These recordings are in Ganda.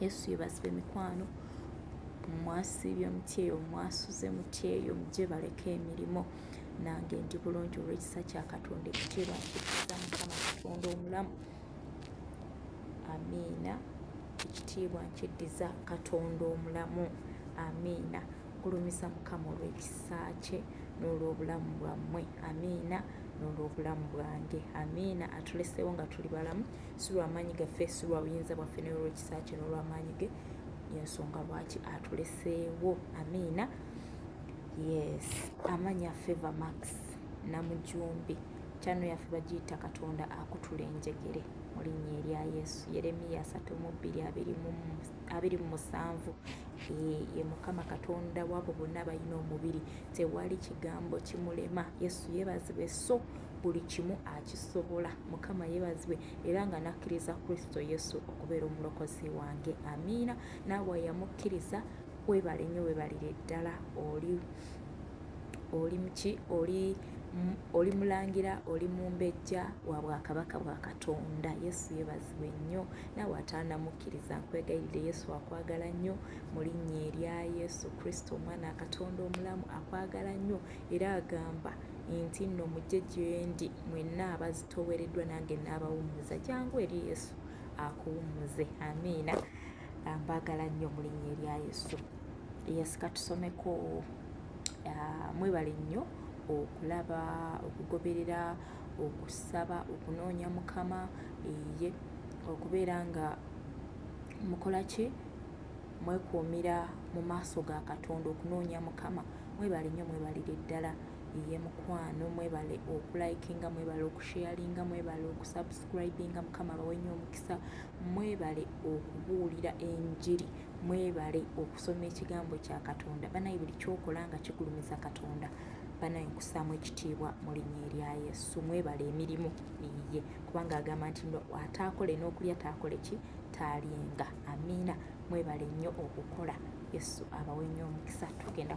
yesu yebazibwa emikwano mwasiibye omuti eyo mwasuze muti eyo mugye baleka emirimu nange ndi bulungi olwekisa kya katonda ekitiibwa nkikiza mukama katonda omulamu amiina ekitiibwa nkiddiza katonda omulamu amiina gulumiza mukama olw'ekisa kye n'olw'obulamu bwammwe amiina n'olw'obulamu bwange amiina atuleseewo nga tuli balamu si lwa maanyi gaffe si lwa buyinza bwaffe naye olw'ekisa kye n'olw'amaanyi ge yensonga lwaki atuleseewo amiina yes amanya feva max namujumbi kyano yaffe bagiyita katonda akutula enjegere mu linnya erya yesu yeremiya asatu mu bbiri abiri mu musanvu ye mukama katonda wabo bonna balina omubiri tewali kigambo kimulema yesu yebazibwe so buli kimu akisobola mukama yebazibwe era nga nakkiriza kristo yesu okubeera omulokozi wange amiina naawe ayamukkiriza webale nnyo webalire ddala oli oli muki oli oli mulangira oli mumbejja wa bwakabaka bwa katonda yesu yebazibwe nnyo naawe ataanamukkiriza nkwegayirire yesu akwagala nnyo mu linnya erya yesu kristo omwana katonda omulamu akwagala nnyo era agamba nti nno mujje gyendi mwenna abazitoowereddwa nange naabawummuza jangu eri yesu akuwummuze amiina ah, mbaagala nnyo mulinnya erya yesu yesika tusomeko ah, mwebale nnyo okulaba okugoberera okusaba okunoonya mukama eye okubeera nga mukola ki mwekuumira mu maaso ga katonda okunoonya mukama mwebale nnyo mwebalire ddala eye mukwano mwebale okulikinga mwebale okusharinga mwebale okusubscribinga mukama abawenye omukisa mwebale okubuulira enjiri mwebale okusoma ekigambo kya katonda banaye buli kyokola nga kigulumiza katonda banaye nkusaamu ekitiibwa mu linnya erya yesu mwebale emirimu iye kubanga agamba nti ataakole n'okulya taakole ki taalyenga amiina mwebale nnyo okukola yesu abawe nnyo omukisa tugenda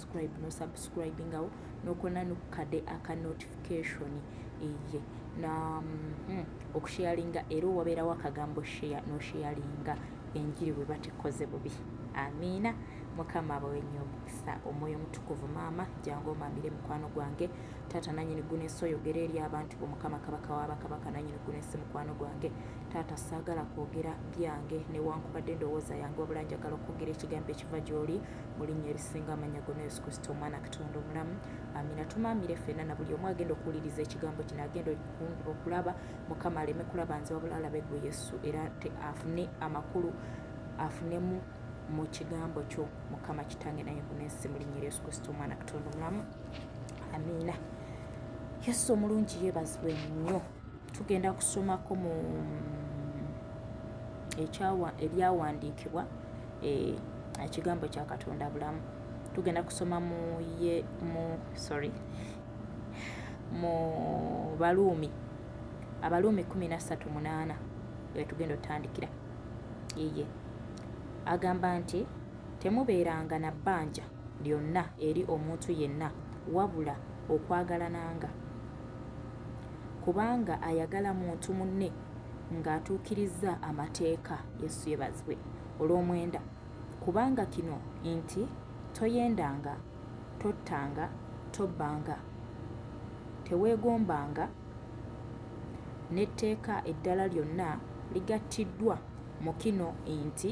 subscribe no subscribingawo nokona nokukade aka notification eye na mm, okusharinga era owabeerawo akagambo share nosharinga enjiri bwe batikoze bubi amiina mukama abawe nnyo omukisa omwoyo omutukuvu maama jangu omamire mukwano gwange taata nanyini gunesi oyogera eri abantu bo mukama kabaka wabakabaka nanyini gunesi mukwano gwange taata saagala kwogera byange newankubadde endowooza yange wabula njagala okwogera ekigambo ekiva gy'oli mu linnya erisinga amannya gonna yesu kristo omwana katonda omulamu amina tumaamire ffenna na buli omu agenda okuwuliriza ekigambo kino agenda okulaba mukama aleme kulaba nze wabula alabe gwe yesu era afune amakulu afunemu mu kigambo kyo mukama kitange naye kunensi mu linnya yesu kristo omwana katonda omulamu amina yesu omulungi yebazibwe nnyo tugenda kusomako mu ekyawa ebyawandiikibwa eh, ekigambo kya katonda bulamu tugenda kusoma mu ye mu sorry mu baluumi abaluumi kumi na ssatu munaana wetugenda otandikira eye agamba nti temubeeranga na bbanja lyonna eri omuntu yenna wabula okwagalananga, kubanga ayagala muntu munne ng'atuukirizza amateeka. Yesu yebazibwe olw'omwenda kubanga kino nti toyendanga, tottanga, tobbanga, teweegombanga n'etteeka eddala lyonna ligattiddwa mu kino nti.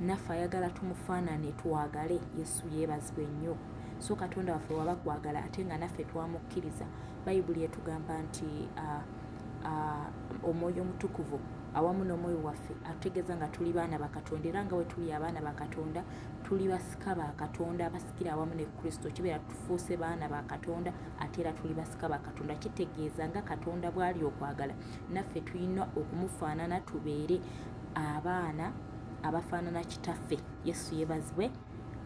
naffe ayagala tumufaanane twagale yesu yeebazibwe nnyo so katonda waffe waba kwagala ate nga naffe twamukkiriza bayibuli etugamba nti uh, uh, omwoyo omutukuvu awamu n'omwoyo waffe atutegeeza nga tuli baana ba katonda era nga bwe tuli abaana ba katonda tuli basika ba katonda abasikira awamu ne kristo kibeera tufuuse baana ba katonda ate era tuli basika ba katonda kitegeeza nga katonda bw'ali okwagala naffe tulina okumufaanana tubeere abaana abafaanana kitaffe yesu yebazibwe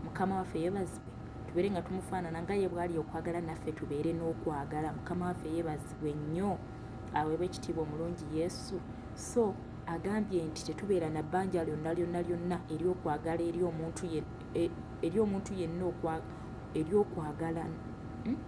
mukama waffe yebazibwe tubeere nga tumufaanana nga ye bwali okwagala naffe tubeere n'okwagala mukama waffe yebazibwe nnyo aweebwa ekitiibwa omulungi yesu so agambye nti tetubeera na bbanja lyonna lyonna lyonna eryokwagala eri omuntu e, yenna eryokwagala hmm?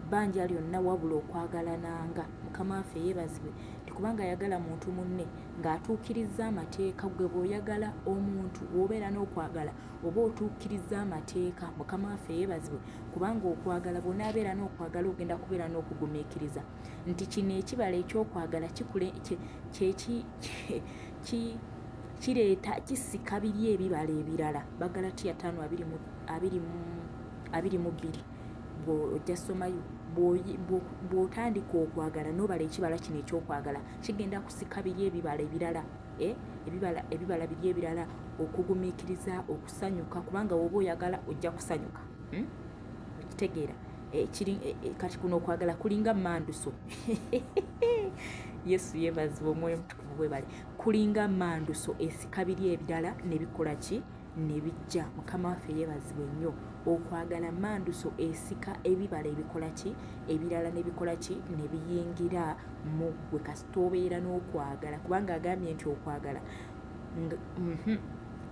bbanja lyonna wabula okwagalananga mukama waffe yebazibwe nti kubanga ayagala muntu munne ng'atuukirizza amateeka gwe bw'oyagala omuntu w'obeera n'okwagala oba otuukirizza amateeka mukama waffe yeebazibwe kubanga okwagala bw'onaabeera n'okwagala ogenda kubeera n'okugumiikiriza nti kino ekibala ekyokwagala kikule kyeki kireeta kisika biri ebibala ebirala bagala tiya taano abiri mu bbiri ojja somayo bw'otandika okwagala n'obala ekibala kino ekyokwagala kigenda kusika biri ebibala ebirala eh, ebibala biri ebirala okugumiikiriza okusanyuka kubanga woba oyagala ojja kusanyuka hmm? okitegeera eh, eh, kati kuno okwagala kulinga manduso yesu yebazibwa omwoyo mutukuvu bwebale kulinga manduso esika biri ebirala nebikola ki nebijja mukama waffe yebazibwe nnyo okwagala manduso esika ebibala ebikola ki ebirala nebikola ki nebiyingira mu gwe kasita obeera n'okwagala kubanga agambye nti okwagala mhm,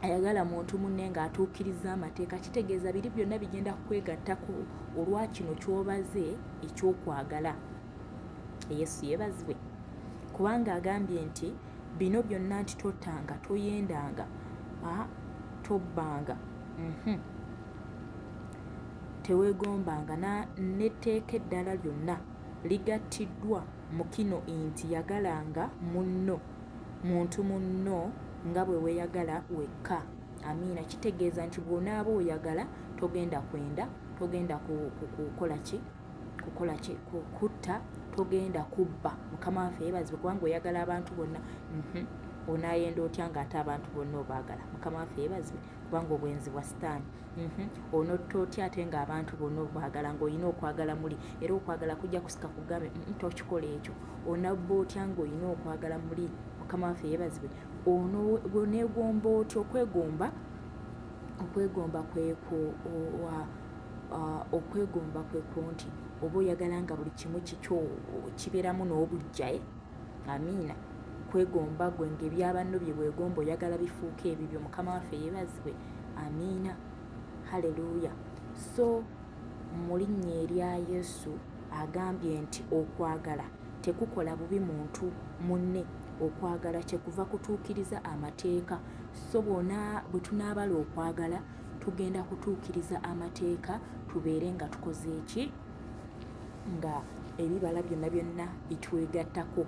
ayagala muntu munne ng'atuukiriza amateeka kitegeeza biri byonna bigenda kukwegattako olwa kino kyobaze ekyokwagala yesu yebazibwe kubanga agambye nti Bino byonna nti tottanga, toyendanga, ah, tobbanga, uhmm, tewegombanga na, n'etteeka eddala lyonna ligattiddwa mu kino inti yagalanga munno, muntu munno nga bwe weyagala wekka. Amiina. Kitegeeza nti bw'onaaba oyagala togenda kwenda, togenda ku, ku, kukola ki? kukola ki kutta togenda kubba mukama waffe yebazibwe kubanga oyagala abantu bonna mhm. onayenda otya nga ate abantu bonna obaagala mukama waffe yebazibwe kubanga obwenzi bwa sitaani mhm. onotta otya ate nga abantu bonna obaagala ngaolina okwagala muli era okwagala kujja kusika kugambe mhm, tokikola ekyo onabba otya ngaolina okwagala muli mukama waffe yebazibwe onegomba otya okwegomba okwegomba kwekwo okwegomba kwe kwo nti oba oyagala nga buli kimu kikyo kibeeramu n'obujjaye amiina kwegomba gwe ngaebyabanno bye bwegomba oyagala bifuuka ebibyo mukama waffe yebazibwe amiina haleluya so mu linnya erya yesu agambye nti okwagala tekukola bubi muntu munne okwagala kyekuva kutuukiriza amateeka so bona bwe tunaabala okwagala tugenda kutuukiriza amateeka tubeere nga tukoze ki nga ebibala byonna byonna bitwegattako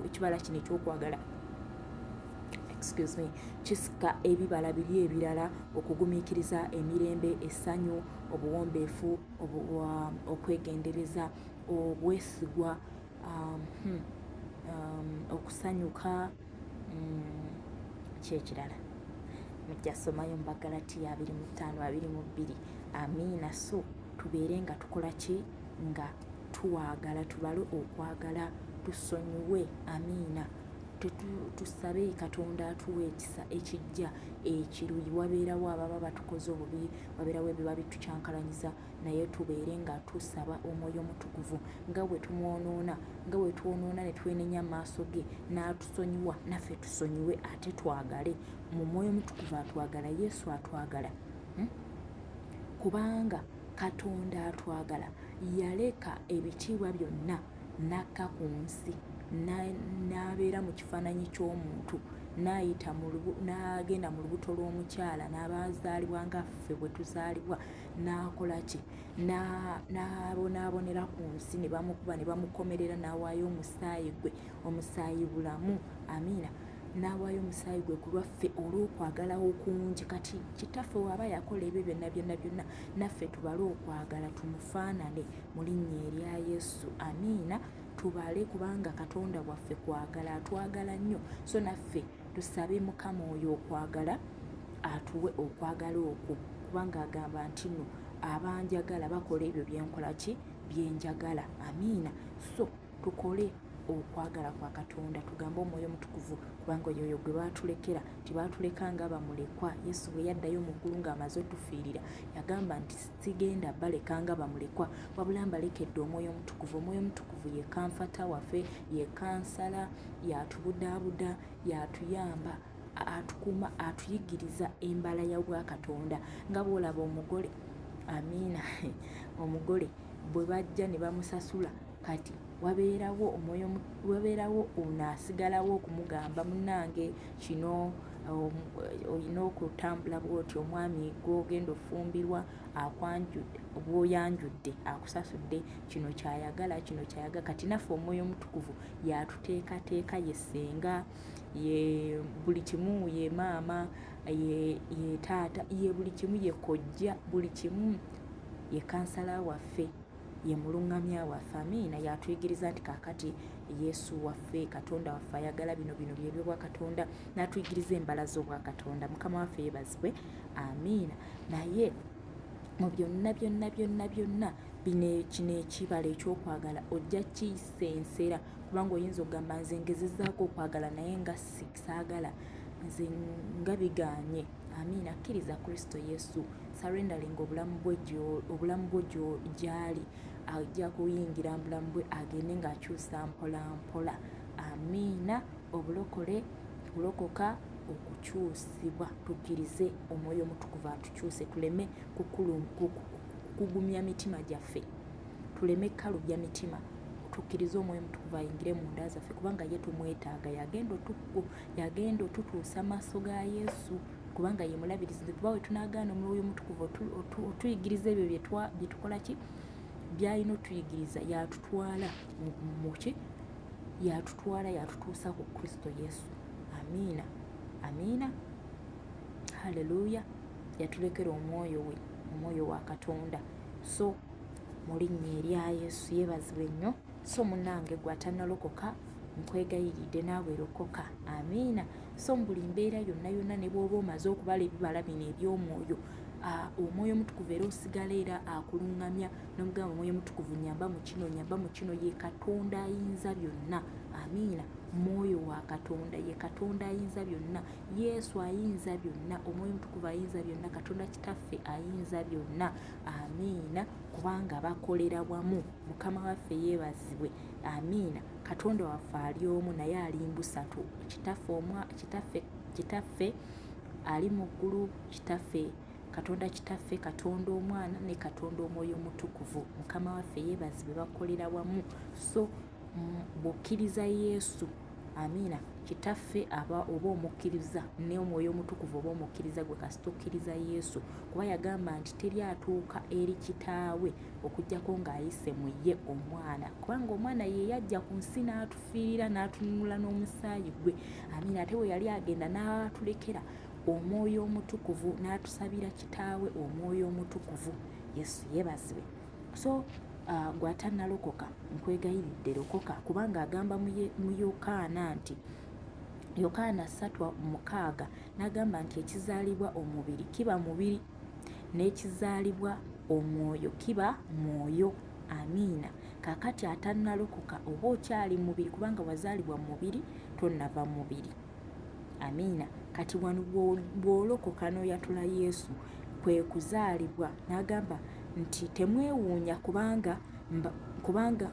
ekibala kino ekyokwagala excuse me kisika ebibala biri ebirala okugumiikiriza emirembe essanyu obuwombeefu um, okwegendereza obwesigwa um, hmm, um, okusanyuka mm, kyekirala mujjasomayo mubagalatiya abiri mu ttaano abiri mu bbiri amiina so tubeere nga tukola ki nga twagala tubale okwagala tusonyiwe amiina tusabe katonda atuwa ekisa ekijja ekiruyi wabeerawo ababa batukoze obubi wabeerawo ebiba bitukyankalanyiza naye tubeere nga tusaba omwoyo omutukuvu nga bwe tumwonoona nga bwe twonoona ne twenenya maaso ge n'atusonyiwa naffe tusonyiwe ate twagale mu mwoyo omutukuvu atwagala yesu atwagala hmm? kubanga katonda atwagala yaleka ebitiibwa byonna n'akka ku nsi n'abeera mu kifaananyi ky'omuntu n'ayita n'agenda mu lubuto lw'omukyala n'abazaalibwa nga ffe bwe tuzaalibwa n'akola ki n'abonaabonera ku nsi ne bamukuba ne bamukomerera n'awaayo omusaayi gwe omusaayi bulamu amiina n'awaayo omusaayi gwe ku lwaffe olw'okwagala okungi kati kitaffe waaba yakola ebyo byonna byonna byonna naffe tubale okwagala tumufaanane mu linnya erya yesu amiina tubale kubanga katonda waffe kwagala atwagala nnyo so naffe Tusabe Mukama oyo okwagala atuwe okwagala okwo kubanga agamba nti no abanjagala bakola ebyo byenkola ki byenjagala amiina so tukole okwagala kwa katonda tugambe omwoyo omutukuvu kubanga oyo oyo gwe baatulekera tebaatuleka nga bamulekwa yesu bwe yaddayo mu ggulu ng'amaze otufiirira yagamba nti sigenda baleka nga bamulekwa wabula mbalekedde omwoyo omutukuvu omwoyo omutukuvu ye kanfata waffe ye kansala yatubudaabuda yatuyamba atukuuma atuyigiriza embala ya bwakatonda nga bwolaba omugole amiina omugole bwe bajja ne bamusasula kati wabeerawo omwoyo wabeerawo ono asigalawo okumugamba munange kino um, olina okutambula bwoti omwami gwogenda ofumbirwa akwanjudde bwoyanjudde akusasudde kino kyayagala kino kyayagala kati naffe omwoyo omutukuvu yatuteekateeka ye senga ye buli kimu ye maama ye taata ye buli kimu ye kojja buli kimu ye kansala waffe ye mulungamya waffe amiina yatuyigiriza nti kakati yesu waffe katonda waffe ayagala bino bino byebyobwakatonda natuyigiriza embala zobwakatonda mukama waffe yebazibwe amiina naye mu byonna byonna byonna byonna bino kino ekibala ekyokwagala ojja kiyisa ensera kubanga oyinza okugamba nze ngezezaako okwagala naye nga saagala nze nga bigaanye amiina kkiriza kristo yesu surrendering obulamu bwe obulamu bwo gyali ajja kuyingira mu bulamu bwe agende ng'akyusa mpola mpola amiina obulokole kulokoka okukyusibwa tukkirize omwoyo omutukuvu atukyuse tuleme kugumya mitima gyaffe tuleme kalubya mitima tukkirize omwoyo mutukuvu ayingire mu nda zaffe kubanga ye tumwetaaga yagenda otukku yagenda otutuusa maaso ga yesu kubanga ye mulabirizi kuba we tunagaana omwoyo mutukuvu otuyigiriza ebyo byetukola ki byalina otuyigiriza yatutwala muki yatutwala yatutuusa ku kristo yesu amiina amiina haleluya yatulekera omwoyo we omwoyo wa katonda so mu linnya erya yesu yebazibwe nnyo so munange gwatanalokoka nkwegayiridde naawe lokoka amiina so mu buli mbeera yonna yonna ne bwoba omaze okubala ebibala bino eby'omwoyo Ah, omwoyo omutukuvu era osigala era akuluŋŋamya nomugamba omwoyo omutukuvu nyamba mu kino nyamba mu kino ye katonda ayinza byonna amiina mwoyo wa katonda ye katonda ayinza byonna yesu ayinza byonna omwoyo omutukuvu ayinza byonna katonda kitaffe ayinza byonna amiina kubanga bakolera wamu mukama waffe yeebazibwe amiina katonda waffe ali omu naye ali mbusatu kitaffe omwa kitaffe kitaffe ali mu ggulu kitaffe katonda kitaffe katonda omwana ne katonda omwoyo omutukuvu mukama waffe yeebazibwe bakolera wamu so bw'okkiriza yesu Amiina. Kitaffe aba oba omukkiriza n'omwoyo omutukuvu oba omukkiriza gwe kasita okkiriza Yesu kuba yagamba nti teri atuuka eri kitaawe okujjako ng'ayise mu ye omwana kubanga omwana ye yajja ku nsi n'atufiirira n'atununula n'omusaayi gwe amiina ate bwe yali agenda n'atulekera omwoyo omutukuvu n'atusabira kitaawe omwoyo omutukuvu yesu yebazibwe so uh, gwatanalokoka nkwegayiridde lokoka kubanga agamba mu yokaana nti yokaana satwa mukaaga n'agamba nti ekizaalibwa omubiri kiba mubiri n'ekizaalibwa omwoyo kiba mwoyo amiina kakati atanalokoka oba okyali mubiri kubanga wazaalibwa mubiri tonava mubiri amiina kati wano bwolokoka noyatula yesu kwekuzaalibwa nagamba nti temwewuunya kubanga kubanga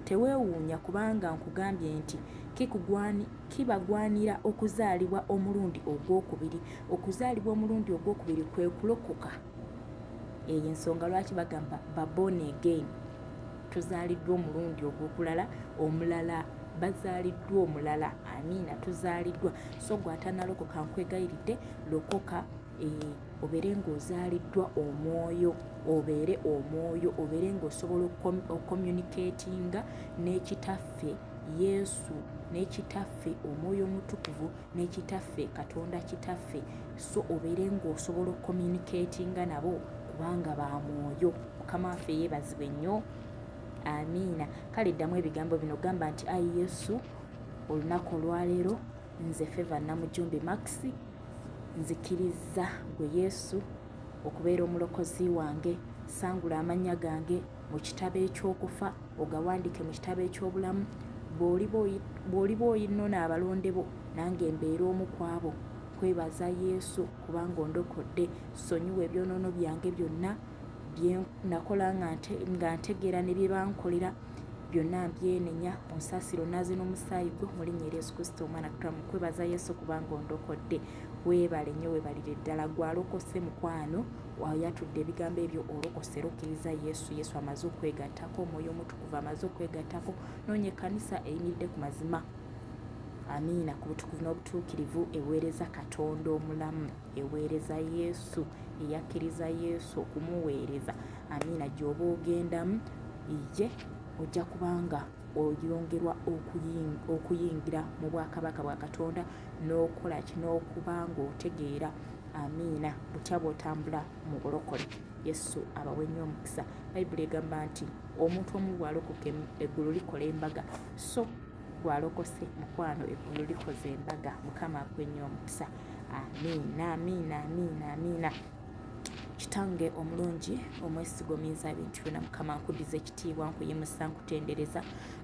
tewewuunya kubanga nkugambye nti kibagwanira okuzaalibwa omulundi ogwokubiri okuzaalibwa omulundi ogwokubiri kwekulokoka eyo ensonga lwaki bagamba babon again tuzaaliddwa omulundi ogw'okulala omulala bazaaliddwa omulala amiina tuzaaliddwa so gwe atanalokoka nkwegayiridde lokoka eh, obeere ng'ozaaliddwa omwoyo obeere omwoyo obeere ng'osobola okomunikatinga n'ekitaffe yesu n'ekitaffe omwoyo omutukuvu n'ekitaffe katonda kitaffe so obeere ng'osobola okomunikatinga nabo kubanga ba mwoyo mukama waffe yeebazibwe nnyo amiina kale ddamu ebigambo bino gamba nti ayi yesu olunaku olwaleero nze feva namujumbi maxi nzikiriza gwe yesu okubeera omulokozi wange sangula amannya gange mu kitabo eky'okufa ogawandike mu kitabo eky'obulamu bw'oliba oyinona abalonde bo nange mbeera omu ku abo kwebaza yesu kubanga ondokodde sonyiwa ebyonoono byange byonna bye nakola nga ntegeera ne bye bankolera byonna mbyenenya onsaasira onaaze n'omusaayi gwo mu linnya erya yesu kristo omwana kutula mu kwebaza yesu kubanga ondokodde weebale nnyo weebalire ddala gwalokose mukwano wayatudde ebigambo ebyo olokose rokkiriza yesu yesu amaze okwegattako omwoyo omutukuvu amaze okwegattako noonya ekkanisa eyimiridde ku mazima amiina ku butukuvu n'obutuukirivu eweereza katonda omulamu eweereza yesu eyakkiriza yesu okumuweereza amiina gyoba ogendamu ye ojja kubanga oyongerwa okuyingira mu bwakabaka bwa katonda n'okola ki n'okuba ng'otegeera amiina butya bw'otambula mu bulokole yesu abawe nnyo omukisa bayibuli egamba nti omuntu omu bwalokoka eggulu likola embaga so gwalokose mukwano eggulu likoze embaga mukama akwenyo omukisa amiina amiina amiina amiina kitange omulungi omwesiga omuyinza bintu byona mukama nkudiza ekitiibwa nkuyimusa nkutendereza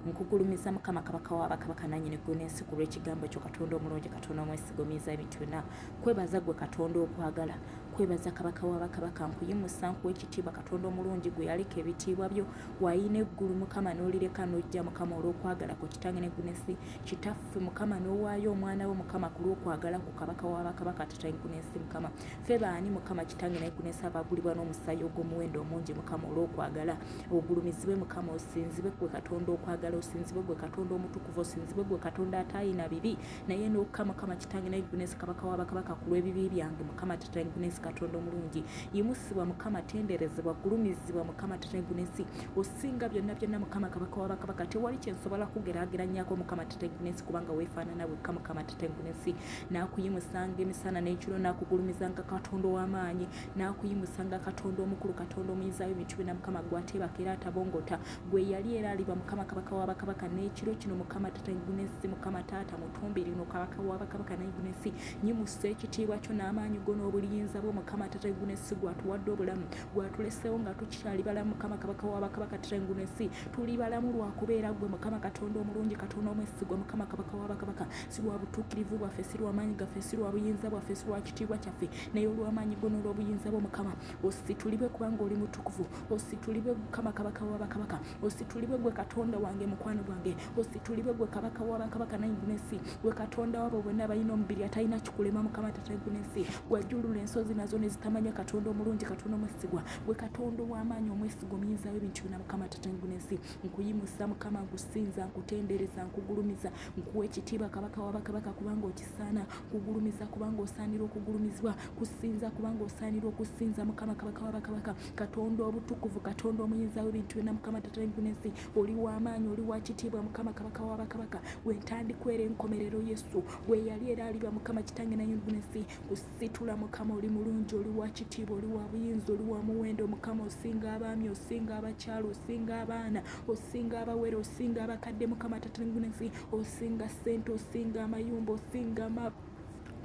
nkugulumiza mukama kabaka wabakabaka nanyini gwe nensi ku lwekigambo kyo katonda omulungi katonda omwesiga omuyinza ebintu byona kwebaza gwe katonda okwagala kwebaza kabaka wabakabaka nkuyimusa nkuwa ekitiibwa katonda omulungi gwe yaleka ebitiibwa byo wayina eggulu mukama nolireka nojja mukama olwokwagala kwe kitange negunesi Kitaffe Mukama n'owaayo omwana wo Mukama ku lw'okwagala ku kabaka wa bakabaka Tatayikunensi Mukama ffe baani Mukama kitange naye kunensi abaagulibwa n'omusaayi ogw'omuwendo omungi Mukama olw'okwagala ogulumizibwe Mukama osinzibwe gwe Katonda okwagala osinzibwe gwe Katonda omutukuvu osinzibwe gwe Katonda ataayina bibi naye n'okka Mukama kitange naye kunensi kabaka wa bakabaka ku lw'ebibi byange Mukama Tatayikunensi Katonda omulungi yimusibwa Mukama tenderezebwa gulumizibwa Mukama Tatayikunensi osinga byonna byonna mukama kabaka wa bakabaka tewali kyensobola kugeraageranyako mukama tetegunesi kubanga weefaanana wekka mukama tetegunesi n'akuyimusanga emisana n'ekiro n'akugulumizanga katonda ow'amaanyi n'akuyimusanga katonda omukulu katonda omuyizaayo emitwe na mukama gwateebaka era atabongota gwe yali era aliba mukama kabaka wa bakabaka n'ekiro kino mukama tetegunesi mukama taata mutumbi lino kabaka wa bakabaka negunesi nyimusa ekitiibwa kyo n'amaanyi go n'obuliyinza bwo mukama tetegunesi gwatuwadde obulamu gwatulesewo nga tukyali balamu mukama kabaka wabakabaka terenguna ensi tuli balamu lwakubeera gwe mukama katonda omulungi katonda omwesigwa mukama kabaka wabakabaka si lwa butuukirivu bwaffe si lwamaanyi gaffe si lwa buyinza bwaffe si lwa kitiibwa kyaffe naye olwamaanyi gwo n'olwobuyinza bwo mukama ositulibwe kubanga oli mutukuvu ositulibwe mukama kabaka wabakabaka ositulibwe gwe katonda wange mukwano gwange ositulibwe gwe kabaka wabakabaka naigulesi gwe katonda wabo bonna abalina omubiri atalina kikulema mukama tataigulesi gwajulula ensozi nazo nezitamanya katonda omulungi katonda omwesigwa gwe katonda owamaanyi omwesigwa omuyinzawo ebintu byona mukama tataigulesi nkuyimusa mukama nkusinza nkutendereza nkugulumiza nkuwa ekitiibwa kabaka wabakabaka kubanga okisaana kugulumiza kubanga osaanira okugulumizibwa kusinza kubanga osaanira okusinza mukama kabaka wabakabaka katonda obutukuvu katonda omuyinza w'ebintu byonna mukama tata ensi oli w'amaanyi oli wa kitiibwa mukama kabaka wa bakabaka gwe ntandikwera enkomerero yesu gwe yali era aliba mukama kitange nayingunensi kusitula mukama oli mulungi oli wa kitiibwa oli wa buyinza oli wa muwendo mukama osinga abaami osinga abakyalo osinga abaana osinga abawere osinga abakadde mukama tata ensi osinga sente osinga amayumba osinga ma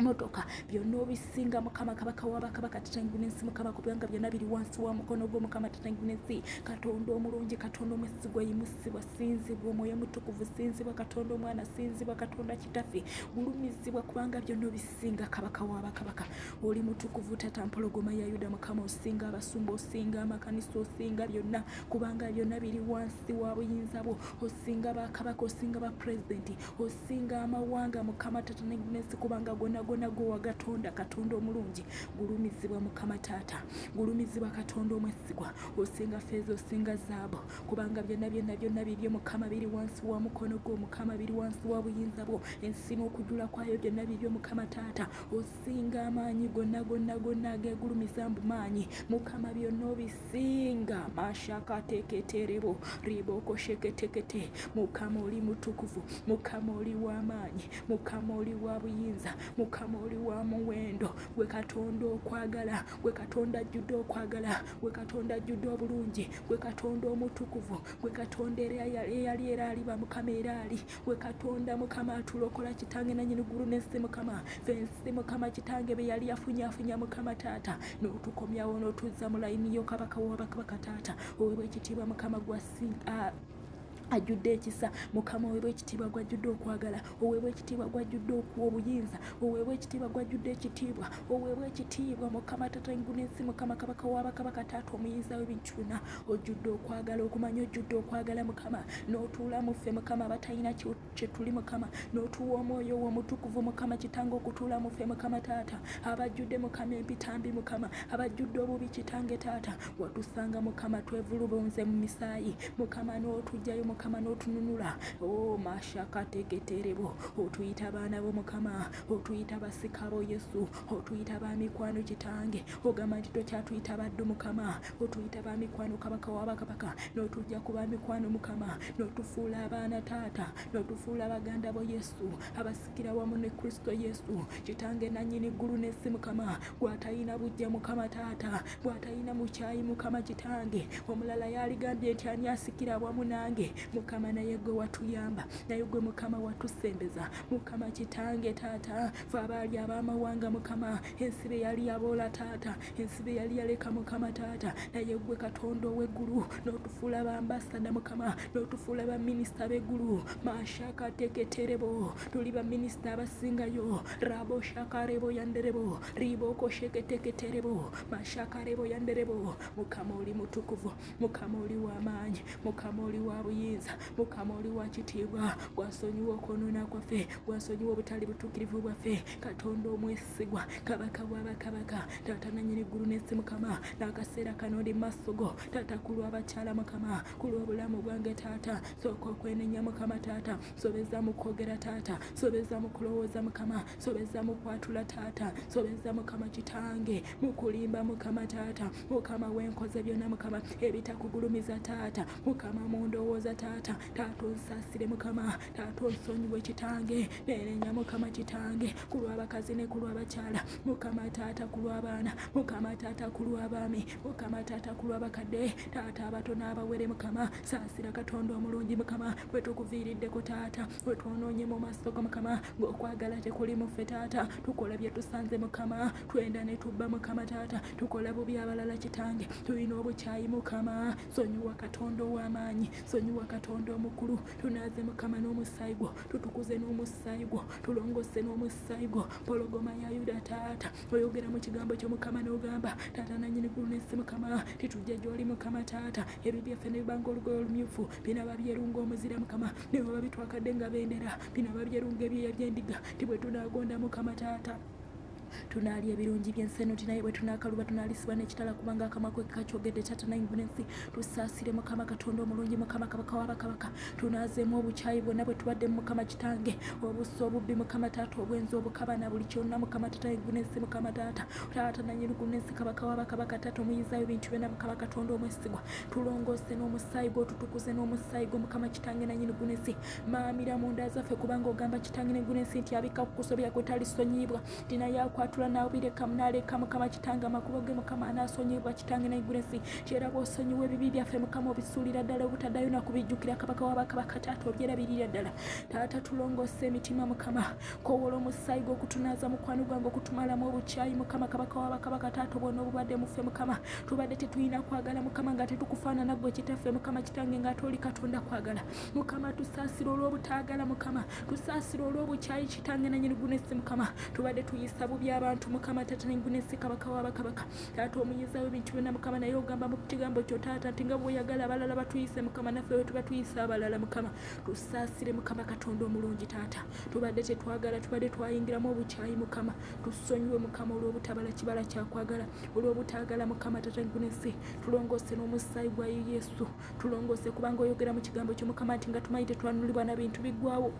motoka byonna obisinga mukama kabaka wabakabaka tatanyigu nensi mukama kubanga byonna biri wansi wa mukono gwo mukama tatanyigu nensi katonda omulungi katonda omwesigwa yimusibwa sinzibwa omwoyo mutukuvu sinzibwa katonda omwana sinzibwa katonda kitafe gulumizibwa kubanga byonna obisinga kabaka wabakabaka oli mutukuvu tata mpologoma ya yuda mukama osinga abasumba osinga amakanisa osinga byonna kubanga byonna biri wansi wa buyinza bwo osinga bakabaka osinga bapulezidenti osinga amawanga mukama taata nensi kubanga gonagona gwe wagatonda katonda omulungi gulumizibwa mukama taata gulumizibwa katonda omwesigwa osinga feeza osinga zaabu kubanga byonna byonna byonna bibyo mukama biri wansi wa mukono gwo mukama biri wansi wa buyinza bwo ensi n'okujula kwayo byonna bibyo mukama taata osinga amaanyi gonna gonna gonna agegulumiza mbu maanyi mukama byonna obisi Singa mashakateketerebo ribokoshekete mukama oli mutukuvu mukama oli w'amaanyi mukama oli wa buyinza mukama oli wa muwendo gwe katonda okwagala gwe katonda ajjudde okwagala gwe katonda ajjudde obulungi gwe katonda omutukuvu gwe katonda eyali era aliba mukama era ali gwe katonda mukama atulokola kitange nanyini gulu nensi mukama fensi mukama kitange beyali yafunyafunya mukama taata notukomyawo notuzza mu layini yo kabaka wabakabaka taata owebwa ekitiibwa mukama gwasi ah, ajjudde ekisa mukama oweebwa ekitiibwa gwajjudde okwagala oweebwa ekitiibwa gwajjudde okuwa obuyinza oweebwa ekitiibwa gwajjudde ekitiibwa oweebwa ekitiibwa mukama tata engunensi mukama kabaka wabakabaka taata omuyinza w'ebintu byonna ojjudde okwagala okumanya ojjudde okwagala mukama n'otuula mu ffe mukama abatalina kye tuli mukama n'otuwa omwoyo wo omutukuvu mukama kitanga okutuula mu ffe mukama taata abajjudde mukama empitambi mukama abajjudde obubi kitange taata watusanga mukama twevulubunze mu misaayi mukama n'otugjayo mukama n'otununula o oh, mashakategeterebo otuyita abaana bo mukama otuyita basika bo yesu otuyita bamikwano kitange ogamba nti tokyatuyita baddu mukama otuyita ba mikwano kabaka wa bakabaka n'otujja ku ba mikwano mukama n'otufuula abaana taata n'otufuula baganda bo yesu abasikira wamu ne kristo yesu kitange nannyini ggulu n'ensi mukama gw'atalina bujja mukama taata gw'atalina mukyayi mukama kitange omulala yaligambye nti ani asikira awamu nange mukama naye gwe watuyamba naye gwe mukama watusembeza mukama kitange taata fe abaali ab'amawanga mukama ensi be yali yaboola taata ensi be yali yaleka mukama taata naye gwe katonda ow'eggulu n'otufuula bambasada mukama n'otufuula baminisita b'eggulu mashakateketerebo tuli baminisita abasingayo rabo shakarebo yanderebo ribooko sheketeketerebo mashakarebo yanderebo mukama oli mutukuvu mukama oli w'amaanyi mukama oli wa buyinza mukama oli wa kitiibwa gwasonyiwa okwonoona kwaffe gwasonyiwa obutali butuukirivu bwaffe katonda omwesi sigwa kabaka wa bakabaka taata nanyini ggulu n'ensi mukama n'akaseera kano ndi maaso go taata ku lw'abakyala mukama ku lw'obulamu bwange taata sooka okwenenya mukama taata sobeza mu kwogera taata sobeza mu kulowooza mukama sobeza mu kwatula taata sobeza mukama kitange mu kulimba mukama taata mukama wenkoze byonna mukama ebitakugulumiza taata mukama mu ndowooza taata taata onsasire mukama taata osonyiwe kitange nenenya mukama kitange kulwabakazi ne kulwabakyala mukama taata kulwabaana mukama taata kulwabaami mukama taata kulwabakadde taata abato n'abawere mukama saasira katonda omulungi mukama bwe tukuviiriddeko taata bwe twonoonye mu maaso go mukama ng'okwagala tekuli muffe taata tukola bye tusanze mukama twenda ne tubba mukama taata tukola bubi abalala kitange tulina obukyayi mukama sonyiwa katonda ow'amaanyi sonyiwa katonda omukulu tunaaze mukama n'omusaayi gwo tutukuze n'omusaayi gwo tulongose n'omusaayi gwo pologoma ya yuda taata oyogera mu kigambo kyo mukama n'ogamba taata nanyini gulu n'ensi mukama titujja gy'oli mukama taata ebyo byaffe ne bibanga olugoye olumyufu binaba byerunga omuzira mukama ne baba bitwakadde nga bendera binaba byerunga ebyoya by'endiga ti bwe tunaagonda mukama taata tunaalya ebirungi by'ensi eno nti naye bwe tunaakaluba tunaalisibwa n'ekitala kubanga akamwa kwe kakyogedde taata nayinguna ensi tusaasire mukama katonda omulungi mukama kabaka wa bakabaka tunaazeemu obukyayi bwonna bwe tubadde mu mukama kitange obusa obubbi mukama taata obwenzi obukaba na buli kyonna mukama taata yinguna ensi mukama taata taata nanyiriguna ensi kabaka wa bakabaka taata omuyizaayo bintu byonna mukama katonda omwesigwa tulongoose n'omusaayi gwotutukuze n'omusaayi gwo mukama kitange nanyiriguna ensi maamira mu nda zaffe kubanga ogamba kitange neggulu ensi nti abikka ku kusobya kwe talisonyiyibwa tina yakwatula naabirekamu naleka mukama kitange amakubo ge mukama anaasonyiyibwa kitange neggulu ensi kyera bwosonyiwa ebibi byaffe mukama obisuulira ddala obutaddayo nakubijjukira kabaka wabakabaka taata obyerabirira ddala taata tulongoosa emitima mukama kowola omusaayi gwokutunaaza mukwano gwange okutumalamu obukyayi mukama kabaka wabakabaka taata obwona obubadde muffe mukama tubadde tetulina kwagala mukama nga tetukufaanana gwe kitaffe mukama kitange nga ate oli katonda kwagala mukama tusaasira olw'obutaagala mukama tusaasira olw'obukyayi kitange nanyini gunesi mukama tubadde tuyisa bubi abantu mukama taata negunesi kabaka wabakabaka taata omuyiza webintu byona mukama naye ogamba mu kigambo kyo taata nti nga bwoyagala abalala batuyise mukama naffe wetuba tuyisa abalala mukama tusaasire mukama katonda omulungi taata tubadde tetwagala tubadde twayingiramu obukyayi mukama tusonyiwe mukama olw'obutabala kibala kyakwagala olw'obutaagala mukama taata negunesi tulongoose n'omusaayi gwa yesu tulongose kubanga oyogera mu kigambo ky'omukama nti nga tumanyi tetwanulibwa na bintu biggwawo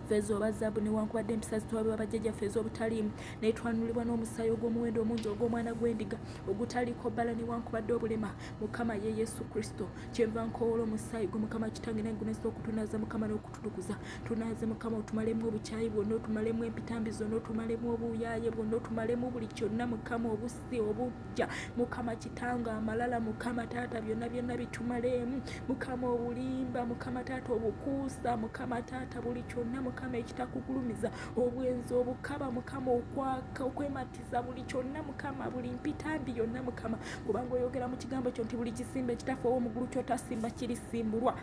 feeza oba zaabu newankubadde empisa zitwalibwa bajjajjaffe ez'obutaliimu naye twanulibwa n'omusaayi ogw'omuwendo omungi ogw'omwana gw'endiga ogutaliiko bbala newankubadde obulema mukama ye yesu kristo kyenva nkowoola omusaayi gwe mukama kitange naye gunesa okutunaaza mukama n'okututukuza tunaaze mukama otumalemu obukyayi bwonna otumalemu empitambi zonna otumalemu obuuyaaye bwonna otumalemu buli kyonna mukama obusa si obujja mukama kitange amalala mukama taata byonna byonna bitumaleemu mukama obulimba mukama taata obukuusa mukama taata buli kyonna mukama ekitakugulumiza obwenzi obukaba mukama okwaka okwematiza buli kyonna mukama buli mpitambi yonna mukama kubanga oyogera mu kigambo kyo nti buli kisimba ekitafa owomugulu kyotasimba kirisimbulwa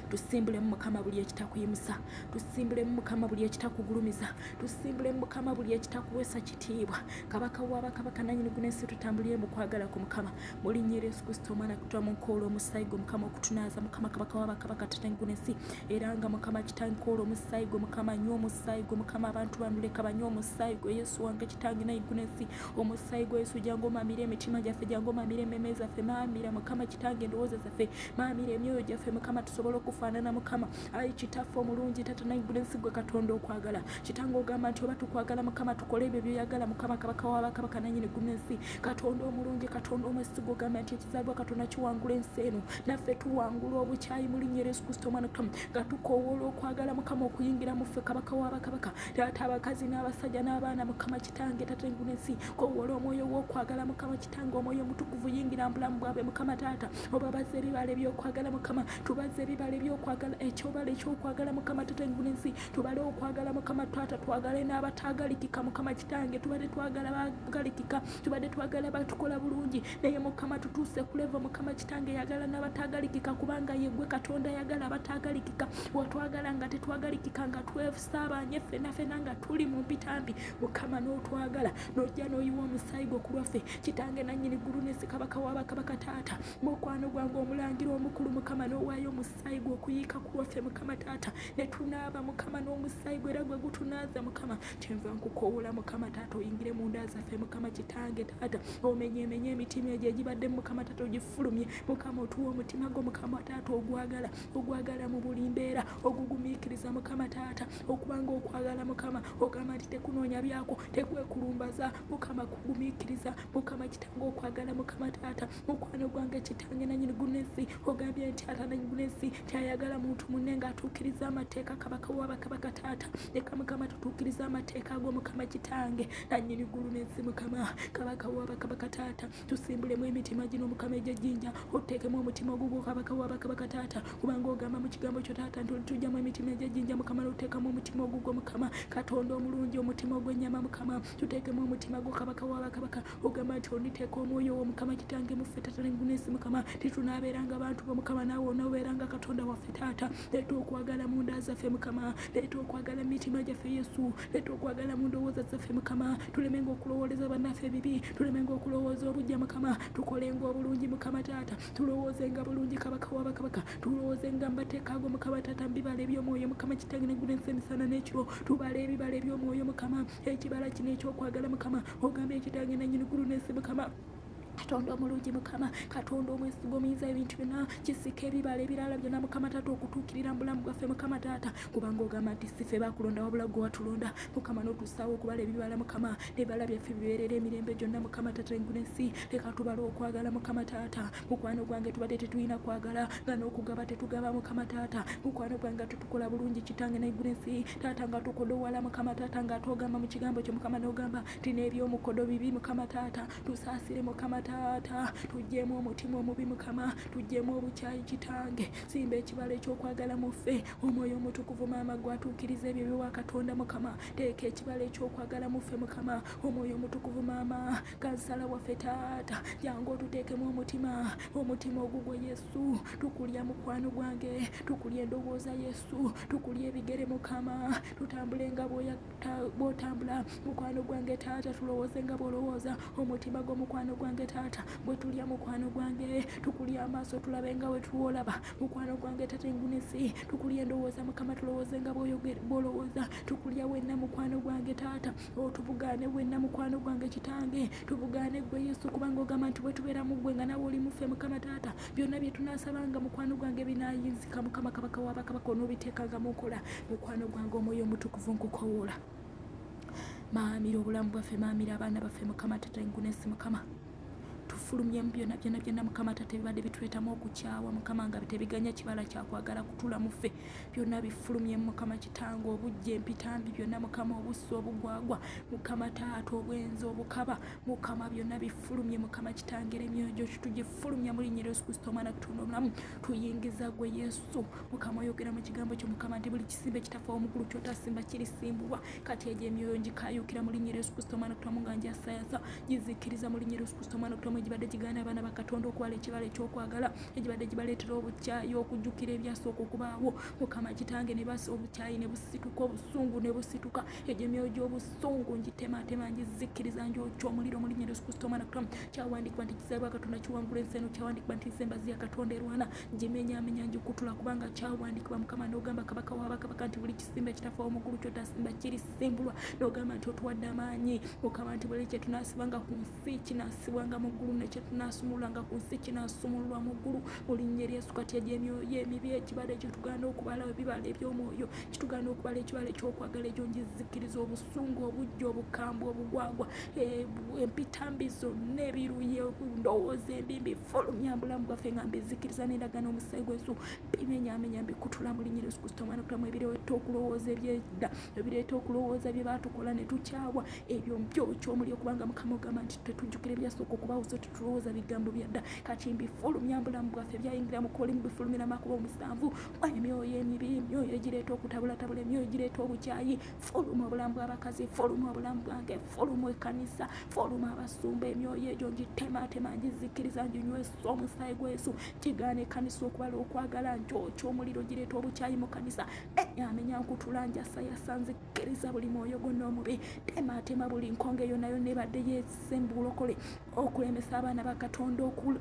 tusimbulemu mukama buli ekitakuyimusa tusimbulemu mukama buli ekitakugulumiza tusimbulemu mukama buli ekitakuwesa kitiibwa kabaka wabakabaka nanyini gunensi tutambulire mukwagala ku mukama mulinyira yesu kristo omwana kutwa munkoola omusaayi gwe mukama okutunaaza mukama kabaka wabakabaka tatanyi gunensi era nga mukama kitanyi koola omusaayi gwe mukama nywa omusaayi gwe mukama abantu banuleka banywa omusaayi gwe yesu wange kitanyi nayi gunensi omusaayi gwe yesu jangu omamire emitima gyaffe jangu omamire ememe zaffe mamira mukama kitange endowooza zaffe maamira emyoyo gyaffe mukama tusobole okufaanana mukama ayi kitaffe omulungi tata naigula ensi gwe katonda okwagala kitanga ogamba nti oba tukwagala mukama tukole ebyo byoyagala mukama kabaka wabakabaka nanyini guma ensi katonda omulungi katonda omwesiga ogamba nti ekizaalibwa katonda kiwangula ensi eno naffe tuwangula obukyayi mu linnya yesu kristo omwana kamu nga tukowoola okwagala mukama okuyingira muffe kabaka wabakabaka taata abakazi n'abasajja n'abaana mukama kitange tata enguna ensi kowoola omwoyo w'okwagala mukama tanga omwoyo omutukuvu yingira mu bulamu bwabwe mukama taata obabaza ebibala ebyokwagala mukama tubaza ebibala ebyokwagala ekyobala ekyokwagala mukama taata engulu ensi tubale okwagala mukama taata twagale n'abatagalikika mukama kitange tubade twagala bagalikika tubade twagala batukola bulungi naye mukama tutuuse kuleva mukama kitange yagala n'abatagalikika kubanga yegwe katonda yagala abatagalikika watwagala nga tetwagalikika nga twef saabanye ffena ffena nga tuli mu mpitambi mukama n'otwagala n'ojja n'oyiwa omusaayi gwo ku lwaffe kitange nannyini ggulu n'ensi kabaka wa bakabaka taata mukwano gwange omulangira omukulu mukama n'owaayo omusaayi gwe okuyiika ku lwaffe mukama taata ne tunaaba mukama n'omusaayi gwe era gwe gutunaaza mukama kyenva nkukowoola mukama taata oyingire mu nda zaffe mukama kitange taata omenyemenye emitima egyo egibadde mukama taata ogifulumye mukama otuwa omutima gwo mukama taata ogwagala ogwagala mu buli mbeera okugumiikiriza mukama taata okubanga okwagala mukama ogamba nti tekunoonya byako tekwekulumbaza mukama kugumiikiriza mukama kitanga okwagala mukama taata mukwano gwange kitange nanyini gunesi ogambye nti ata nanyi gunesi tyayagala muntu munne nga atuukiriza amateeka kabaka wabakabaka taata leka mukama tutuukiriza amateeka ago mukama kitange nanyini gulunesi mukama kabaka wabakabaka taata tusimbulemu emitima gino mukama egyejjinja otuteekemu omutima ogugwo kabaka wa bakabaka taata kubanga ogamba mu kigambo kyo taata nti olitujjamu emitima egyejjinja mukama notuteekamu omutima ogugwo mukama katonda omulungi omutima ogw'ennyama mukama tuteekemu omutima gwo kabaka wa bakabaka ogamba nti oliteeka omwoyo wo mukama kitange muffe taata nengunesi mukama titunaabeeranga bantu bo mukama naawe onoobeeranga katonda waffe taata leeta okwagala mu nda zaffe mukama leeta okwagala mu mitima gyaffe yesu leeta okwagala mu ndowooza zaffe mukama tulemenga okulowooleza bannaffe ebibi tulemenga okulowooza obujja mukama tukolenga obulungi mukama taata tulowoozenga bulungi kabaka wa bakabaka tulowoozenga mbateeka ago mukama taata mubibala ebyomwoyo mukama kitange neggulu ensi emisana n'ekiro tubala ebibala ebyomwoyo mukama ekibala kino ekyokwagala mukama ogambye ekitange nanyini ggulu n'ensi mukama katonda omulungi mukama katonda omwesigwa omuyinza ebintu byona kisika ebibala ebirala byona mukama taata okutuukirira mubulamu bwaffe mukama taata kubanga ogamba nti sife bakulonda wabula gwe watulonda mukama notusaawo okubala ebibala mukama ebibala byaffe bibeerera emirembe gyonna mukama tata engula ensi leka tubala okwagala mukama taata mukwano gwange tubadde tetulina kwagala nga n'okugaba tetugaba mukama taata mukwano gwange tetukola bulungi kitange naigula ensi taata nga tukodowala mukama taata nga atogamba mu kigambo kyo mukama n'ogamba nti n'ebyomukodo bibi mukama taata tusaasire mukama taata tuggyemu omutima omubi mukama tuggyemu obukyayi kitange simba ekibalo ekyokwagala mu ffe omwoyo omutukuvu maama gwatuukiriza ebyo biwa katonda mukama teeka ekibala ekyokwagala muffe mukama omwoyo omutukuvu maama kansala waffe taata jangu otuteekemu omutima omutima ogugwe yesu tukulya mukwano gwange tukulya endowooza yesu tukulya ebigere mukama tutambule nga bwotambula mukwano gwange taata tulowooze nga bwolowooza omutima gwo mukwano gwange taata gwe tulya mukwano gwange tukulya amaaso tulabe nga wetuwolaba mukwano gwange taata engunisi tukulya endowooza mukama tulowooze nga bwolowooza tukulya wenna mukwano gwange taata otubugaane wenna mukwano gwange kitange tubugaane gwe yesu kubanga ogamba nti bwetubeera mu gwe nga nawe oli mufe mukama taata byonna bye tunasabanga mukwano gwange binayinzika mukama kabaka wabakabaka onobiteekanga mu nkola mukwano gwange omwoyo omutukuvu nkukowola maamira obulamu bwaffe maamira abaana baffe mukama tata engunesi mukama tufulumye mu byona byona byona mukama tata ebibadde bituletamu okukyawa mukama nga tebiganya kibala kyakwagala kutula mufe byona bifulumye mukama kitanga obujja empitambi byona mukama obussa obugwagwa mukama taata obwenzi obukaba mukama byona bifulumye mukama kitangera emyoyo gyoki tugifulumya mu linnya lyesu kristo omwana kutonda omulamu tuyingiza gwe yesu mukama oyogera mu kigambo kyo mukama nti buli simba ekitaffe omukulu kyotasimba kirisimbulwa kati egyo emyoyo ngikayuukira mu linnya Yesu Kristo omwana kutamu nga njasayaza gizikiriza mu linnya Yesu Kristo omwana kutamu egibadde gigaana abaana ba Katonda okuwala ekibala ekyokwagala egibadde gibaleetera obukyayi okujjukira ebyasooka okubaawo mukama kitange ne basa obukyayi ne busituka obusungu ne busituka egyo emyoyo gy'obusungu ngitematema ngizikiriza ngyokya omuliro mu linnya Yesu Kristo omwana kutamu kyawandiikibwa nti kizaalibwa Katonda kiwangula ensi eno kyawandiikibwa nti nsembazi ya Katonda erwana ngimenyaamenya ngikutula kubanga kyawandiikibwa mukama n'ogamba kabaka wa bakabaka nti buli kisimba ekitafa omugulu kyotasimba kirisimbulwa n'ogamba nti otuwadde amaanyi mukama nti buli kyetunaasibanga ku nsi kinaasibwanga mu ggulu nekyetunaasumululanga ku nsi kinaasumululwa mu ggulu mu linnya eryesu kati egyo emyoyo emibi ekibala ekyo tugaana okubala ebibala eby'omwoyo kitugaana okubala ekibala ekyokwagala ekyo ngizikkiriza obusungu obujja obukambwe obugwagwa eh, empitambi zonna ebiruye ndowooza embimbi fulumya bulamu bwaffe nga mbizikiriza n'endagaano omusaayi gwesu bimenyamenya mbikutula mu linnya lyesu kristo omwana kutamu ebireeta okulowooza ebyedda ebireeta okulowooza bye baatukola ne tukyawa ebyo mbyokyo omuli okubanga mukama ogamba nti tetujjukira ebyasooka okubawuza tetulowooza bigambo byadda kati mbifulumya bulamu bwaffe byayingira mu kolimu bifulumira makuba omusanvu emyoyo emibi emyoyo egireeta okutabulatabula emyoyo egireeta obukyayi fuluma obulamu bw'abakazi fuluma obulamu bwange fuluma ekkanisa fuluma abasumba emyoyo egyo ngitemaatema ngizikkiriza nginywesa omusaayi gwa yesu kigaana ekkanisa okubala okwagala nkyokyo omuliro gireeta obukyayi mu kkanisa enyamenya nkutula njasayasa nzikkiriza buli mwoyo gonna omubi temaatema buli nkonga eyo nayo nebadde yesembuulokole okulemesa abaana ba katonda okula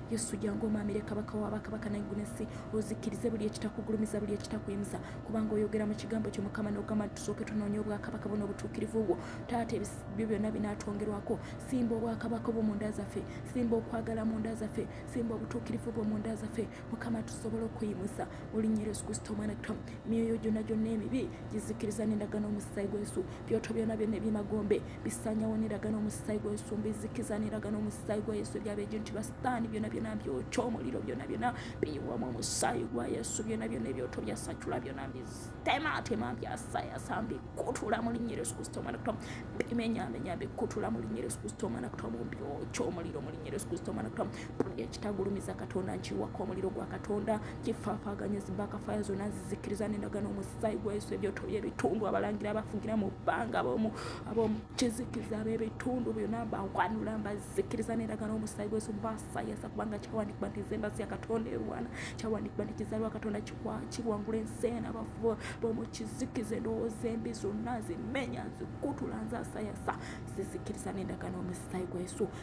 yesu jangu omamire kabaka wa bakabaka naiguna ensi ozikirize buli ekitakugulumiza buli ekitakuyimusa kubanga oyogera mu kigambo kyo mukama nogamba nti tusooke tunoonya obwakabaka buno obutuukirivu bwo taata ebyo byonna binatwongerwako simba obwakabaka obwo mu nda zaffe simba okwagala mu nda zaffe simba obutuukirivu bwo mu nda zaffe mukama tusobole okuyimusa olinyera yesu kristo omwana kitamu myoyo gyonna gyonna emibi gizikiriza nendagano omusaayi gwesu byoto byona byonna ebyemagombe bisanyawo neraga n'omusaayi gwa yesu mbizikiza neraga n'omusaayi gwa yesu ebyabejo nti basitaani byona byona byokya omuliro byona byona biyiwamu omusaayi gwa yesu byona byona ebyoto byasacula byona mbitematema byasayasa mbikutula mu linnya yesu kristo omwana kutomu bimenyamenya mbikutula mu linnya yesu kristo omwana kutomu byokya omuliro mu linnya yesu kristo omwana kutomu buli ekitagulumiza katonda nkiwako omuliro gwa katonda kifaafaganya zibakafaya zonna zizikiriza nendagano omusaayi gwa yesu ebyoto byebitundu abalangira abafugira mu bbanga abomukizikiriza bebitundu byonna bawanula mbazikiriza nendagano omusaayi gwa yesu mbasayasa kubanga kyawandikibwa nti zembasi ya katonda erwana kyawandikibwa nti kizalwa katonda kiwangula ensi ena abafu bomukizikiza endowooza embi zonna zimenya zikutula nzasayasa zizikiriza nendagano omusaayi gwa yesu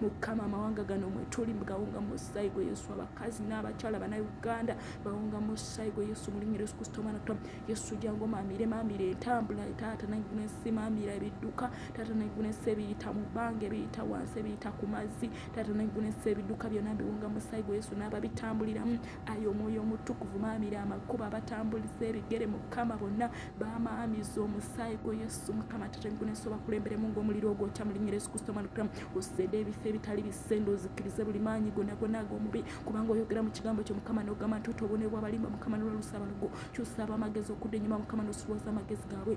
Mukama amawanga gano mwetuli gawunga mu musaayi gwa Yesu abakazi n'abakyala bannayuganda bawunga mu musaayi gwa Yesu mu linnya Yesu Kristo omwana twa Yesu jangu maamire maamire entambula taata naiguna ensi maamira ebidduka taata naiguna ensi ebiyita mu bbanga ebiyita wansi ebiyita ku mazzi taata naiguna ensi ebidduka byonna biwunga mu musaayi gwa Yesu n'ababitambuliramu Ayi omwoyo omutukuvu maamira amakubo abatambuliza ebigere mukama bonna bamaamiza omusaayi gwo yesu mukama tatenkunensi obakulemberemu ngaomuliro ogwokya mu linnya yesu kristo omwana kiramu osede ebifo ebitali bisende ozikirize buli maanyi gona gona ag'omubi kubanga oyogera mu kigambo kyo mukama n'ogamba nti otobonerwa abalimba mukama nolwalusa abalogo kyusa abamagezi okudda enyuma mukama nosuwaza amagezi gaabwe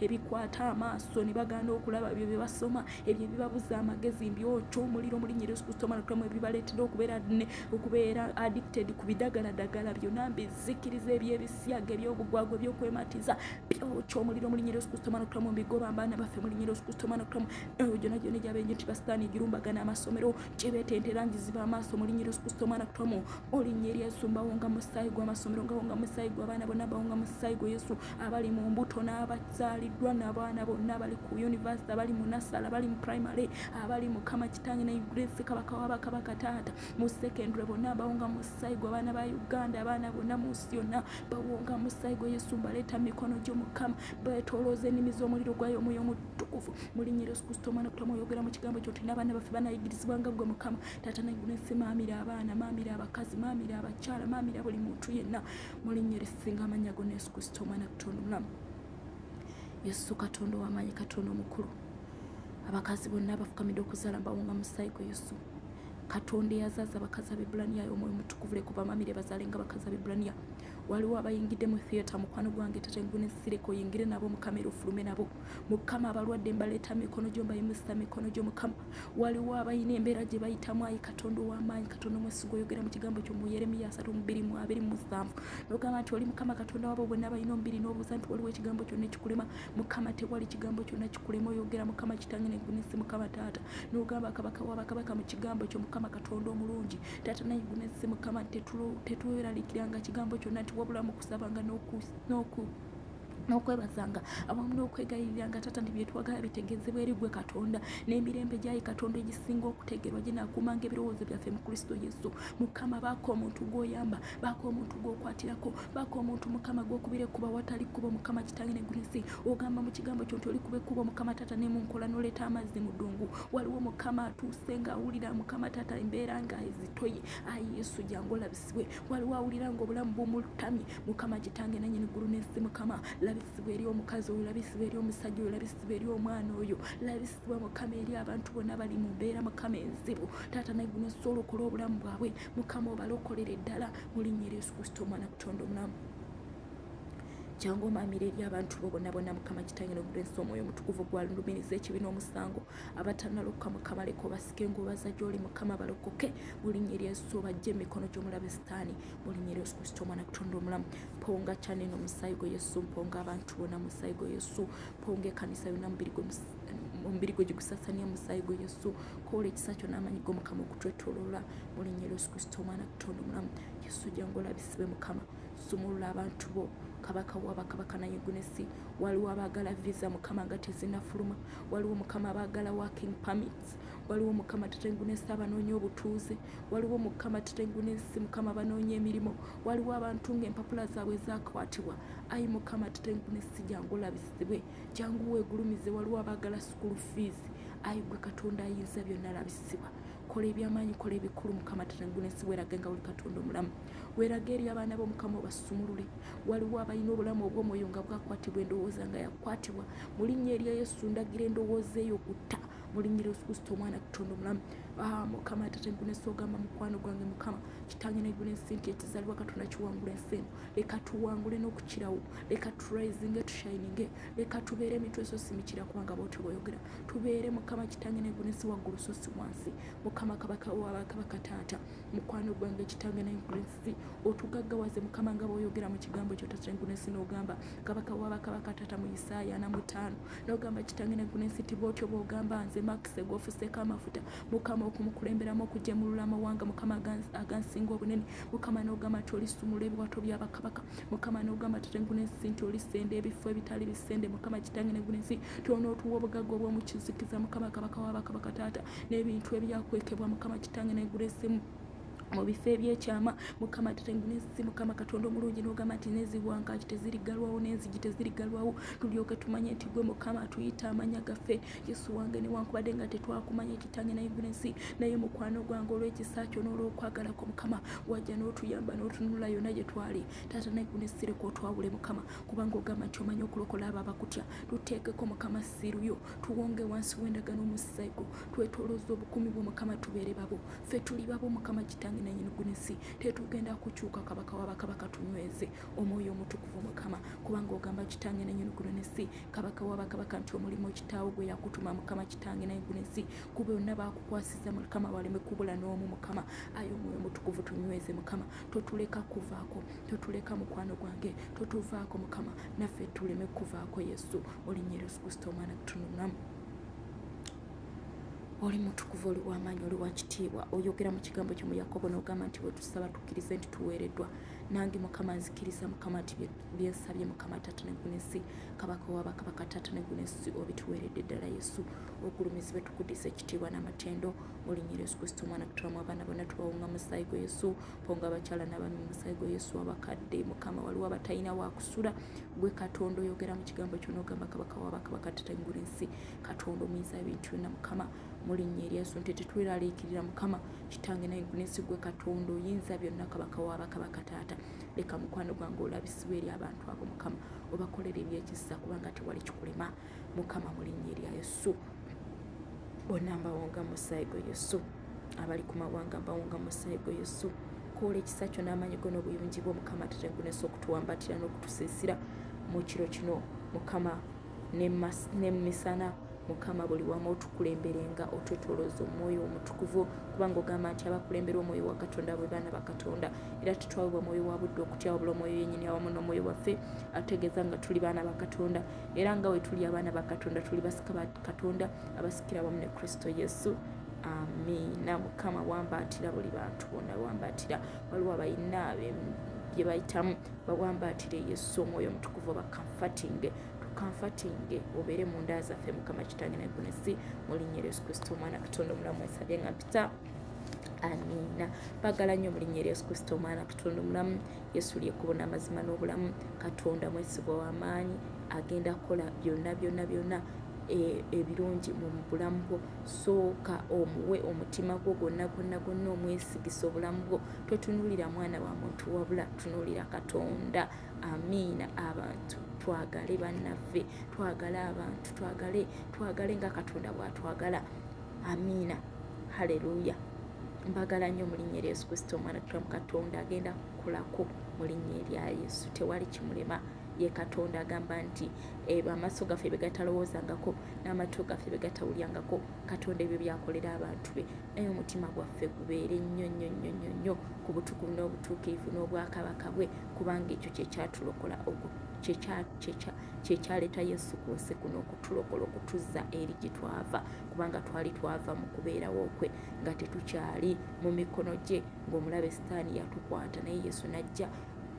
ebikwata amaaso ne bagaana okulaba ebyo bye basoma ebyo ebibabuza amagezi mbyokyo omuliro mulinya yesu kristo omwana tulamu ebibaleetera okubeera ne okubeera addicted ku bidagaladagala byonna mbizikiriza ebyebisiyaga ebyobugwagwa ebyokwematiza byokyo omuliro mulinya yesu kristo omwana tulamu mbigoba mbaana baffe mulinya yesu kristo omwana tulamu eyo gyona gyona egyabenje nti basitaani egirumbagana amasomero kyebetentera ngiziba amaaso mulinya yesu kristo omwana tulamu olinya eri yesu mbawonga musaayi gw'amasomero ngawonga musaayi gw'abaana bonna bawonga musaayi gwe yesu abali mu mbuto n'abazaaliddwa n'abaana bonna abali ku yunivasite abali mu nasala abali mu primary abali mukama kitange ne grace kabaka wa bakabaka taata mu secondary bonna bawonga musayi gwe abaana ba uganda abaana bonna mu nsi yonna bawonga musayi gwe yesu mbaleeta mu mikono gyo mukama betolooza ennimi z'omuliro gwayo omwoyo omutukuvu mulinya yesu kristo omwana kutama oyogera mu kigambo kyo tulina abaana baffe banayigirizibwa nga gwe mukama taata naiguna ensi maamira abaana maamira abakazi maamira abakyala maamira buli muntu yenna mulinnya erisinga amannya gona yesu kristo omwana katonda omulamu yesu katonda owamaanyi katonda omukulu abakazi bonna abafukamidde okuzaala mbawunga musaayi gwe yesu katonda eyazaaza abakazi abebulaniya omwoyo mutukuvule kuba mamire bazaale nga abakazi abebulaniya waliwo abayingidde mu theatre mukwano gwange tata enguni nsireka oyingire nabo mukama era ofulume nabo mukama abalwadde mbaleeta mikono gyo mbayimusa mikono gyo mukama waliwo abalina embeera gye bayitamu ayi katonda ow'amaanyi katonda omwesiga oyogera mu kigambo kyo mu yeremiya asatu mubiri mu abiri mu musanvu nogamba nti oli mukama katonda wabo bonna balina omubiri n'obusa nti waliwo ekigambo kyonna ekikulema mukama tewali kigambo kyonna kikulema oyogera mukama kitange negunesi mukama taata nogamba kabaka wabakabaka mu kigambo kyo mukama katonda omulungi taata naye gunesi mukama tetweralikiranga kigambo kyonna nti wabulamu kusabanga n'oku n'okwebazanga awamu n'okwegayiriranga taata nti byetwagala bitegezebwa eri gwe katonda n'emirembe gyayi katonda egisinga okutegerwa ginakuumanga ebirowoozo byaffe mu kristo yesu mukama baako omuntu gwoyamba baako omuntu gwokwatirako baako omuntu mukama gwokubira ekkuba watali kkubo mukama kitange negunsi ogamba mu kigambo kyo nti olikuba ekkubo mukama taata nemunkola noleeta amazzi mu ddungu waliwo mukama atuuse nga awulira mukama taata embeera nga ezitoye ayi yesu jangu olabisa labisibwe waliwo awulira nga obulamu bumulutamye mukama kitange nanyini ggulu nensi mukama labisibwe eri omukazi oyo labisibwe eri omusajja oyo labisibwe eri omwana oyo labisibwe mukama eri abantu bonna bali mu mbeera mukama enzibu taata naye guno osobola okola obulamu bwabwe mukama obalokolere ddala mulinnya eri yesu kristo omwana kutonda omulamu jangu omamira eri abantu bo bonabona mukama kitange nogulensi omwoyo omutukuvu gwalulumiriza ekibi n'omusango abatanalokoka mukama leka obasike ngaobaza gyoli mukama balokoke mulinya eryesu obajja emikono gyomulabe sitaani mulinya eryesu kristo omwana kutonda omulamu mponga kyaneno omusaayi gwe yesu mponga abantu bona musaayi gwe yesu mponga ekanisa yona mubiri gwe omubiri gwe gigusasania musaayi gwe yesu kola ekisa kyo n'amanyi go mukama okutwetolola mulinya eryesu kristo omwana kutonda omulamu yesu jangu olabisibe mukama sumulula abantu bo kabaka wabakabaka naye gunesi waliwo abaagala visa mukama nga tezinafuluma waliwo mukama abaagala working permits waliwo mukama tutengunesa abanoonya obutuuze waliwo mukama tutengunesi mukama abanoonya emirimu waliwo abantu nga empapula zaabwe zakwatibwa ayi mukama tutengunesi jangu olabisibwe jangu weegulumize waliwo abaagala sukulu fiizi ayi gwe katonda ayinza byonna labisibwa kola ebyamaanyi kola ebikulu mukama tatangunesi weraga nga oli katonda omulamu weraga eri abaana bo mukama obasumulule waliwo abalina obulamu obwomwoyo nga bwakwatibwa endowooza nga yakwatibwa mu linnya erya yesu ndagira endowooza eyo okutta mulinyira yesu kristo omwana katonda omulamu ah, mukama atate nkunesa ogamba mukwano gwange mukama kitange negula ensi nti ekizalibwa katonda kiwangula ensi eno leka tuwangule n'okukirawo leka turisinge tushininge leka tubeere emitwe so simikira kubanga bwotyo bwoyogera tubeere mukama kitange negulu si waggulu so si wansi mukama kabaka wabakabaka taata mukwano gwange kitange negulu si otugaggawaze mukama nga bwoyogera mu kigambo kyo taata negulu si nogamba kabaka wabakabaka taata mu isaaya na mutaano nogamba kitange negulu si ti bwotyo bwogamba nze makise gwofuseeko amafuta mukama okumukulemberamu okujemulula amawanga mukama agansinga obunene mukama nogamba ti olisumula ebiwato byabakabaka mukama nogamba tate ngunensi nti olisenda ebifo ebitali bisende mukama kitange negunensi tionootuwa obugagga obwomukizikiza mukama kabaka wabakabaka taata n'ebintu ebyakwekebwa mukama kitange negunensimu mu bifo ebyekyama mukama tetengunensi mukama katonda omulungi nogamba nti neziwankaki tezirigalwawo nenzigi tezirigalwawo tulyoke tumanye nti gwe mukama atuyita amanya gaffe Yesu wange newankubadde nga tetwakumanya kitange naye gulensi naye mukwano gwange olw'ekisa kyo n'olw'okwagala kwo mukama wajja n'otuyamba n'otunula yonna gye twali taata naye gunesireka otwawule mukama kubanga ogamba nti omanyi okulokola abo abakutya tuteekeko mukama siruyo tuwonge wansi w'endagano omusaayi gwo twetolooza obukumi bwo mukama tubeere babo ffe tuli babo mukama kitange nanyini gulensi tetugenda kukyuka kabaka wabakabaka tunyweze omwoyo omutukuvu mukama kubanga ogamba kitange nanyini gulensi kabaka wa bakabaka nti omulimu kitaawo gwe yakutuma mukama kitange naye guno ensi kuba yonna bakukwasiza mukama baleme kubula n'omu mukama aye omwoyo mutukuvu tunyweze mukama totuleka kuvaako totuleka mukwano gwange totuvaako mukama naffe tuleme kuvaako yesu olinnya yesu kristo omwana tutunulamu oli mutukuvu oli wamaanyi oli wakitiibwa oyogera mu kigambo kyo mu yakobo n'ogamba nti bwe tusaba tukkirize nti tuweereddwa nange mukama nzikiriza mukama nti byensabye mukama tata negunesi kabaka wabakabaka tata negunesi obituweredde ddala yesu ogulumizibwe tukudiza ekitiibwa n'amatendo mulinyira yesu kristo omwana kutulamu abaana bona tubawunga musaayi gwa yesu ponga abakyala n'abaami musaayi gwa yesu abakadde mukama waliwo abatalina wakusula gwe katonda oyogera mu kigambo kyona ogamba kabaka wabakabaka tata ngula ensi katonda omuyinza ebintu byonna mukama mulinya eryaso nti tetweraliikirira mukama kitange naye nsi gwe katonda oyinza byonna kabaka wa bakabaka taata leka mukwano gwange olabisibwa eri abantu abo mukama obakolera ebyekisa kubanga tewali kikulema mukama mulinnya erya yesu bonna mbawonga musaayi gwe yesu abali ku mawanga mbawonga musaayi gwe yesu kola ekisa kyo n'amaanyi go n'obuyungi bwo mukama tatengunesa okutuwambatira n'okutusiisira mu kiro kino mukama ne misana mukama buli wamu otukulemberenga otwetolooza omwoyo omutukuvu kubanga ogamba nti abakulemberwa omwoyo wa katonda bwe baana ba katonda era tetwawebwa mwoyo wa budde okutya wabula omwoyo yenyini awamu n'omwoyo waffe ategeeza nga tuli baana ba katonda era nga we tuli abaana ba katonda tuli basika ba katonda abasikira wamu ne kristo yesu amiina mukama wambaatira buli bantu bonna wambaatira waliwo abalina bye bayitamu bawambaatire yesu omwoyo omutukuvu obakama fatinge tukanfatinge obeere mu nda zaffe mukama kitange nagunesi mu linnya eryesu kristo omwana katonda omulamu wesabye nga mpita amiina bagala nnyo mulinya erya yesu kristo omwana katonda omulamu yesu lyekkubo n'amazima n'obulamu katonda mwesigwa w'amaanyi agenda kukola byonna byonna byonna E, ebirungi mu bulamu bwo sooka omuwe omutima gwo gwonna gwonna gwonna omwesigisa obulamu bwo totunuulira mwana wa muntu wabula tunuulira katonda amiina abantu twagale bannaffe twagale abantu twagale twagale nga katonda bwatwagala amiina haleluya mbagala nnyo mulinnya erya yesu kristo omwana tulamu katonda agenda kukolako mulinnya erya yesu tewali kimulema ye katonda agamba nti eh, amaaso gaffe begatalowoozangako n'amatu gaffe begatawulyangako katonda ebyo byakolera abantu be naye omutima gwaffe gubeere nnyo nnyo nnyo nnyo nnyo ku butukuvu n'obutuukirivu n'obwakabaka bwe kubanga ekyo kyekyatulokola kyekyaleeta yesu ku nsi kuno okutulokola okutuzza eri gye twava kubanga twali twava mu kubeerawo kwe nga tetukyali mu mikono gye ng'omulabe sitaani yatukwata naye yesu n'ajja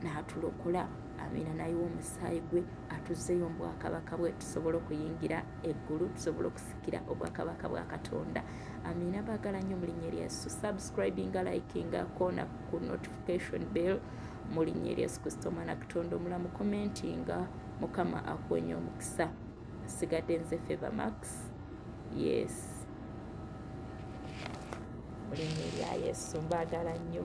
n'atulokola amiina nayiwa omusaayi gwe atuzzeyo mu bwakabaka bwe tusobole okuyingira eggulu tusobole okusikira obwakabaka bwa katonda amina bagala nnyo mu linnya erya yesu subscribinga likinga kona ku notification bell mu linnya erya yesu kristo omwana katonda omulamu commentinga mukama akuwenye omukisa sigadde nze favor max yes mu linnya erya yesu mbaagala nnyo